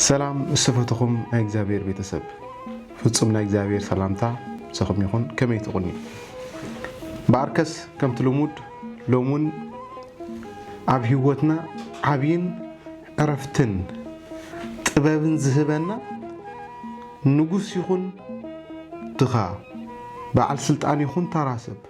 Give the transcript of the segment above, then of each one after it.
ሰላም ምስ ዝፈተኹም ናይ እግዚኣብሔር ቤተሰብ ፍጹም ናይ እግዚኣብሔር ሰላምታ ምሳኹም ይኹን። ከመይ ትቑኒ በኣርከስ ከምቲ ልሙድ ሎም እውን ኣብ ህይወትና ዓብይን ዕረፍትን ጥበብን ዝህበና ንጉስ ይኹን ድኻ በዓል ስልጣን ይኹን ተራ ሰብ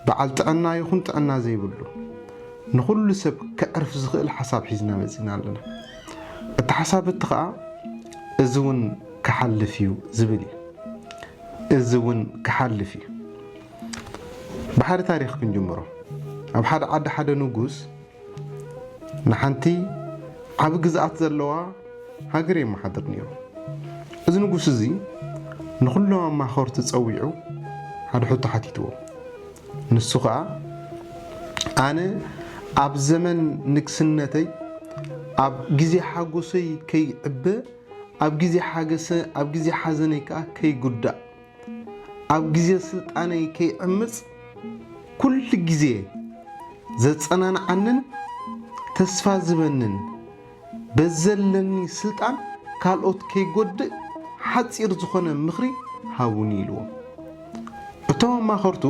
በዓል ጥዕና ይኹን ጥዕና ዘይብሉ፣ ንኹሉ ሰብ ከዕርፍ ዝኽእል ሓሳብ ሒዝና መጺእና ኣለና። እቲ ሓሳብ እቲ ከኣ እዚ ውን ክሓልፍ እዩ ዝብል እዩ። እዚ ውን ክሓልፍ እዩ። ብሓደ ታሪኽ ክንጅምሮ። ኣብ ሓደ ዓዲ ሓደ ንጉስ ንሓንቲ ዓቢ ግዝኣት ዘለዋ ሃገር የመሓድር ነይሩ። እዚ ንጉስ እዚ ንዅሎም ኣማኸርቱ ጸዊዑ ሓደ ሕቶ ሓቲትዎም። ንሱ ኸኣ ኣነ ኣብ ዘመን ንግስነተይ ኣብ ግዜ ሓጐሰይ ከይዕበ ኣብ ግዜ ሓዘነይ ከኣ ከይጕዳእ ኣብ ግዜ ስልጣነይ ከይዕምጽ ኩሉ ግዜ ዘጸናንዓንን ተስፋ ዝህበንን በዘለኒ ስልጣን ካልኦት ከይጎድእ ሓጺር ዝኾነ ምኽሪ ሃቡኒ ኢልዎም። እቶም ኣማኸርቱ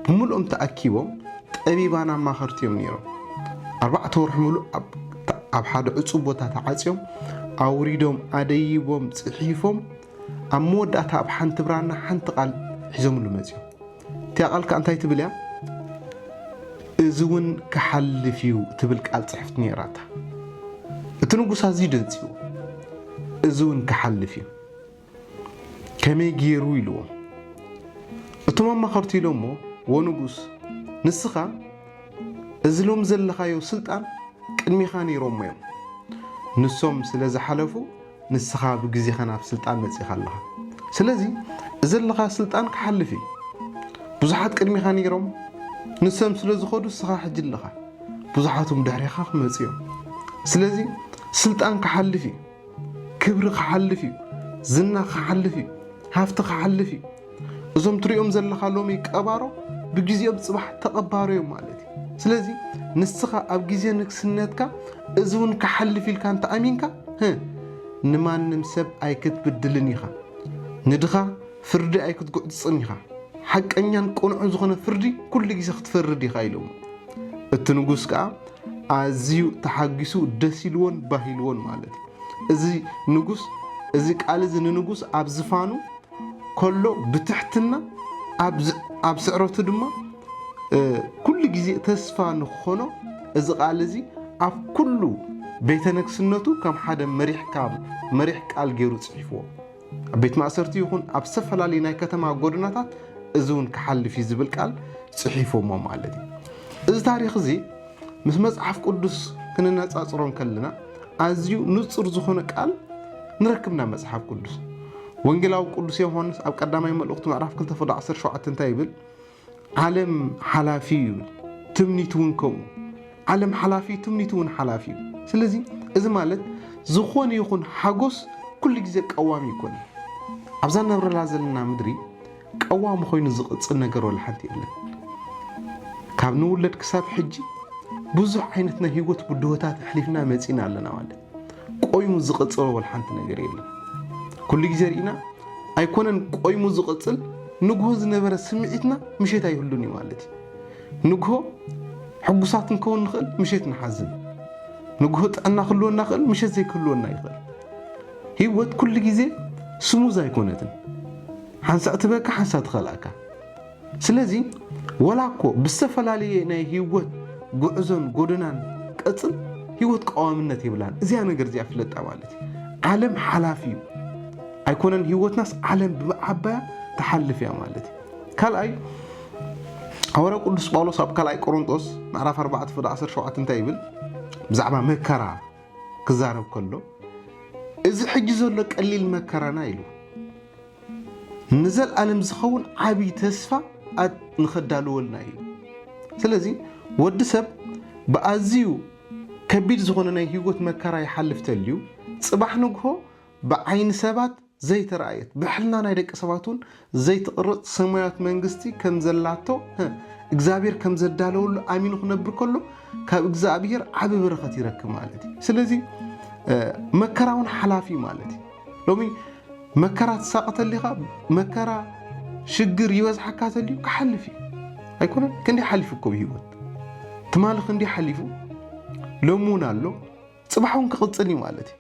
ብምልኦም ተኣኪቦም ጠቢባን ኣማኸርቲ እዮም ነይሮም። ኣርባዕተ ወርሒ ምሉእ ኣብ ሓደ ዕጹው ቦታ ተዓጽዮም ኣውሪዶም ኣደይቦም ጽሒፎም ኣብ መወዳእታ ኣብ ሓንቲ ብራና ሓንቲ ቃል ሒዞምሉ መጺኦም። እቲኣ ቃል ከኣ እንታይ ትብል እያ? እዚ እውን ክሓልፍ እዩ ትብል ቃል ጽሕፍቲ ነይራታ። እቲ ንጉስ ኣዝዩ ደንጺዎ እዚ እውን ክሓልፍ እዩ ከመይ ገይሩ ኢልዎም። እቶም ኣማኸርቱ ኢሎሞ ወ ንጉስ ንስኻ እዚ ሎሚ ዘለኻዮ ስልጣን ቅድሜኻ ነይሮሞ እዮም ንሶም ስለ ዝሓለፉ ንስኻ ብግዜኻ ናብ ስልጣን መጺኻ ኣለኻ ስለዚ እዘለኻ ስልጣን ክሓልፍ እዩ ብዙሓት ቅድሚኻ ነይሮም ንሰም ስለ ዝኸዱ ንስኻ ሕጂ ኣለኻ ብዙሓትም ድሕሪኻ ክመጹ እዮም ስለዚ ስልጣን ክሓልፍ እዩ ክብሪ ክሓልፍ እዩ ዝና ክሓልፍ እዩ ሃፍቲ ክሓልፍ እዩ እዞም ትሪኦም ዘለኻ ሎሚ ቀባሮ ብግዜኦም ጽባሕ ተቐባሮ እዮም ማለት እዩ። ስለዚ ንስኻ ኣብ ግዜ ንግስነትካ እዚ እውን ክሓልፍ ኢልካ እንተኣሚንካ ህ ንማንም ሰብ ኣይክትብድልን ኢኻ። ንድኻ ፍርዲ ኣይክትጉዕጽጽን ኢኻ። ሓቀኛን ቅኑዕን ዝኾነ ፍርዲ ኩሉ ግዜ ክትፈርድ ኢኻ ኢሎሞ። እቲ ንጉስ ከኣ ኣዝዩ ተሓጊሱ ደስ ኢልዎን ባህ ኢልዎን ማለት እዩ። እዚ ንጉስ እዚ ቃል እዚ ንንጉስ ኣብ ዝፋኑ ከሎ ብትሕትና ኣብ ስዕረቱ ድማ ኩሉ ግዜ ተስፋ ንክኾኖ እዚ ቃል እዚ ኣብ ኩሉ ቤተ ነግስነቱ ከም ሓደ መሪሕ ቃል ገይሩ ፅሒፍዎ ኣብ ቤት ማእሰርቲ ይኹን ኣብ ዝተፈላለዩ ናይ ከተማ ጎደናታት እዚ እውን ክሓልፍ እዩ ዝብል ቃል ፅሒፎሞ ማለት እዩ እዚ ታሪክ እዚ ምስ መጽሓፍ ቅዱስ ክነነጻጽሮ እንከለና ኣዝዩ ንጹር ዝኾነ ቃል ንረክብ ናብ መጽሓፍ ቅዱስ ወንጌላዊ ቅዱስ ዮሐንስ ኣብ ቀዳማይ መልእኽቱ ምዕራፍ 2 ፍዶ 17 እንታይ ይብል ዓለም ሓላፊ እዩ ይብል ትምኒት እውን ከምኡ ዓለም ሓላፊ ትምኒት እውን ሓላፊ እዩ ስለዚ እዚ ማለት ዝኾነ ይኹን ሓጎስ ኩሉ ግዜ ቀዋሚ ይኮነ ኣብዛ ነብረላ ዘለና ምድሪ ቀዋሚ ኮይኑ ዝቕጽል ነገር ወላ ሓንቲ የለን። ካብ ንውለድ ክሳብ ሕጂ ብዙሕ ዓይነት ናይ ህይወት ብድሆታት ኣሕሊፍና መጺና ኣለና ማለት ቆይሙ ዝቕጽሎ ወላ ሓንቲ ነገር የለን። ኩሉ ግዜ ርኢና ኣይኮነን ቆይሙ ዝቕጽል ንግሆ ዝነበረ ስምዒትና ምሸት ኣይህሉን እዩ ማለት እዩ። ንግሆ ሕጉሳት ንከውን ንኽእል፣ ምሸት ንሓዝን። ንግሆ ጥዕና ክህልወና ክእል፣ ምሸት ዘይክህልወና ይኽእል። ህይወት ኩሉ ግዜ ስሙዝ ኣይኮነትን። ሓንሳእ ትበኪ ሓንሳእ ትኸልኣካ ስለዚ ወላ እኮ ብዝተፈላለየ ናይ ሂወት ጉዕዞን ጎደናን ቀጽል ሂወት ቀዋምነት የብላን እዚኣ ነገር እዚኣ ፍለጣ ማለት እዩ ዓለም ሓላፊ እዩ ኣይኮነን ሂወትናስ ዓለም ብዓባያ ትሓልፍ እያ ማለት እዩ ካልኣይ ሃዋርያ ቅዱስ ጳውሎስ ኣብ ካልኣይ ቆሮንጦስ ምዕራፍ 4 ፍዳ 17 እንታይ ይብል ብዛዕባ መከራ ክዛረብ ከሎ እዚ ሕጂ ዘሎ ቀሊል መከራና ኢሉ ንዘልኣለም ዝኸውን ዓብይ ተስፋ ንኸዳልወልና እዩ። ስለዚ ወዲ ሰብ ብኣዝዩ ከቢድ ዝኾነ ናይ ህይወት መከራ ይሓልፍ ተልዩ ፅባሕ ንግሆ ብዓይኒ ሰባት ዘይተረኣየት ብሕልና ናይ ደቂ ሰባት እውን ዘይትቕረፅ ሰማያዊት መንግስቲ ከም ዘላቶ እግዚኣብሔር ከም ዘዳለወሉ ኣሚኑ ክነብር ከሎ ካብ እግዚኣብሔር ዓቢ በረኸት ይረክብ ማለት እዩ። ስለዚ መከራ እውን ሓላፊ ማለት እዩ። ሎሚ መከራ ትሳቐ ተሊኻ መከራ ሽግር ይበዝሓካ ተልዩ ክሓልፍ እዩ ኣይኮነ ክንደይ ሓሊፉ እኮ ብሂወት ትማሊ ክንደይ ሓሊፉ ሎሚ እውን ኣሎ ፅባሕ እውን ክቕፅል እዩ ማለት እዩ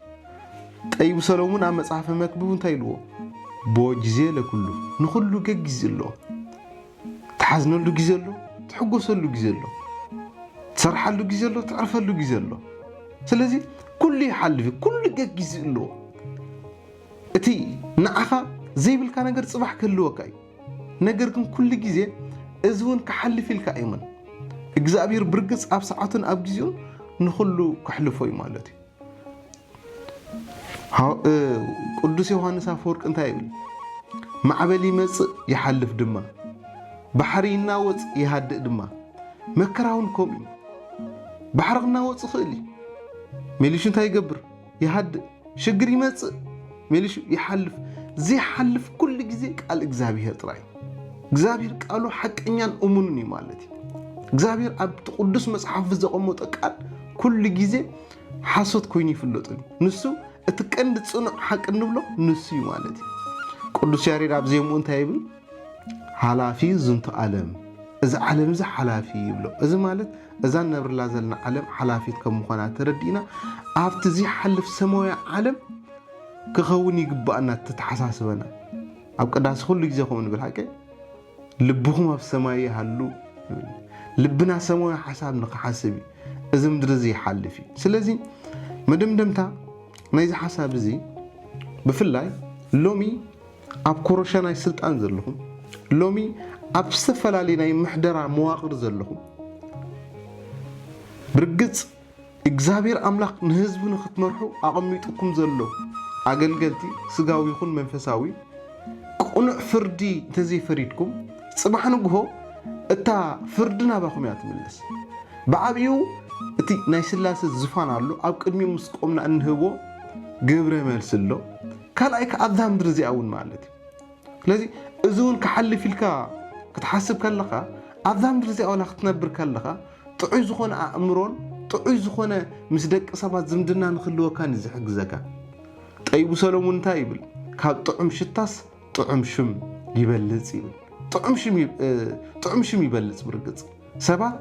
ጠይቡ ሰሎሙን ኣብ መፅሓፈ መክብብ እንታይ ኢልዎ ቦ ግዜ ለኩሉ ንኩሉ ገጊዝ ኣለዎ ትሓዝነሉ ግዜ ኣሎ፣ ትሕጎሰሉ ግዜ ኣሎ፣ ትሰርሓሉ ግዜ ኣሎ፣ ትዕርፈሉ ግዜ ኣሎ። ስለዚ ኩሉ ይሓልፍ እዩ፣ ኩሉ ገጊዝኡ ኣለዎ። እቲ ንዓኻ ዘይብልካ ነገር ጽባሕ ክህልወካ እዩ። ነገር ግን ኩሉ ግዜ እዚ እውን ክሓልፍ ኢልካ ኣይመን እግዚኣብሔር ብርግጽ ኣብ ሰዓቱን ኣብ ግዜኡን ንኹሉ ክሕልፎ እዩ ማለት እዩ። ቅዱስ ዮሃንስ ኣፈወርቅ እንታይ ይብል? ማዕበል ይመጽእ ይሓልፍ ድማ፣ ባሕሪ ይናወጽ ይሃድእ ድማ፣ መከራ እውን ከምኡ እዩ። ባሕሪ ክናወጽ ይኽእል እዩ፣ ሜሊሹ እንታይ ይገብር? ይሃድእ። ሽግር ይመጽእ፣ ሜሊሹ ይሓልፍ ዘይሓልፍ ኩሉ ግዜ ቃል እግዚኣብሄር ጥራይ እግዚኣብሄር ቃሉ ሓቀኛን እሙንን እዩ ማለት እዩ እግዚኣብሄር ኣብቲ ቅዱስ መጽሓፉ ዘቐመጦ ቃል ኩሉ ግዜ ሓሶት ኮይኑ ይፍለጡ ንሱ እቲ ቀንዲ ጽኑዕ ሓቂ እንብሎ ንሱ እዩ ማለት እዩ ቅዱስ ያሬድ ኣብ ዜምኡ እንታይ ይብል ሓላፊ ዝንቱ ዓለም እዚ ዓለም እዚ ሓላፊ ይብሎ እዚ ማለት እዛ ነብርላ ዘለና ዓለም ሓላፊት ከም ምዃና ተረዲእና ኣብቲ ዘይሓልፍ ሰማያዊ ዓለም ክኸውን ይግባእና ተተሓሳስበና ኣብ ቅዳሴ ኩሉ ግዜ ከምኡ ንብል ሓቀይ ልብኹም ኣብ ሰማይ ይሃሉ ልብና ሰማያዊ ሓሳብ ንክሓስብ እዩ እዚ ምድሪ እዚ ይሓልፍ እዩ ስለዚ መደምደምታ ናይዚ ሓሳብ እዚ ብፍላይ ሎሚ ኣብ ኮረሻ ናይ ስልጣን ዘለኹም ሎሚ ኣብ ዝተፈላለዩ ናይ ምሕደራ መዋቕር ዘለኹም ብርግፅ እግዚኣብሔር ኣምላክ ንህዝቡ ንክትመርሑ ኣቀሚጡኩም ዘሎ ኣገልገልቲ ስጋዊ ይኩን መንፈሳዊ ቅኑዕ ፍርዲ እንተዘይፈሪድኩም ፅባሕ ንግሆ እታ ፍርዲ ናባኩም እያ ትምለስ ብዓብይኡ እቲ ናይ ስላሰ ዝፋን ኣሎ ኣብ ቅድሚኡ ምስ ቆምና እንህቦ ግብረ መልሲ ኣሎ ካልኣይ ከዓ ኣብዛ ምድሪ እዚኣ እውን ማለት እዩ ስለዚ እዚ እውን ክሓልፍ ኢልካ ክትሓስብ ከለኻ ኣብዛ ምድሪ እዚኣ ዋላ ክትነብር ከለኻ ጥዑይ ዝኾነ ኣእምሮን ጥዑይ ዝኾነ ምስ ደቂ ሰባት ዝምድና ንክህልወካን እዩ ዝሕግዘካ። ጠቢቡ ሰሎሙን እንታይ ይብል? ካብ ጥዑም ሽታስ ጥዑም ሽም ይበልፅ ይብል። ጥዑም ሽም ይበልፅ ብርግፅ ሰባት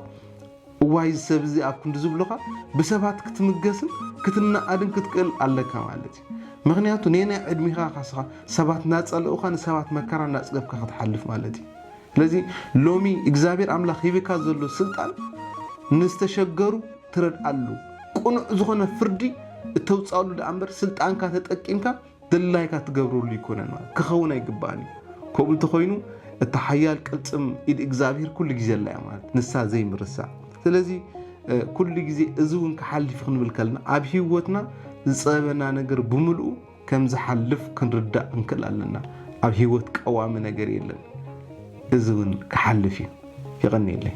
እዋይ እዚ ሰብ እዚ ኣብ ክንዲ ዝብሉኻ ብሰባት ክትምገስን ክትነኣድን ክትክእል ኣለካ ማለት እዩ ምኽንያቱ ነየናይ ዕድሚኻ ካስኻ ሰባት እናጸለኡኻ ንሰባት መከራ እናጽገብካ ክትሓልፍ ማለት እዩ ስለዚ ሎሚ እግዚኣብሔር ኣምላኽ ሂብካ ዘሎ ስልጣን ንዝተሸገሩ ትረድኣሉ ቅኑዕ ዝኾነ ፍርዲ እተውጻሉ ደኣ እምበር ስልጣንካ ተጠቂምካ ድላይካ ትገብረሉ ኣይኮነን ማለት ክኸውን ኣይግባእን እዩ ከምኡ እንተኾይኑ እታ ሓያል ቅልፅም ኢድ እግዚኣብሄር ኩሉ ግዜ ኣላ እያ ማለት ንሳ ዘይምርሳዕ ስለዚ ኩሉ ግዜ እዚ እውን ክሓልፍ ክንብል ከለና ኣብ ሂወትና ዝፀበና ነገር ብምልኡ ከም ዝሓልፍ ክንርዳእ ክንክእል ኣለና ኣብ ሂወት ቀዋሚ ነገር የለን እዚ እውን ክሓልፍ እዩ ይቐኒየለይ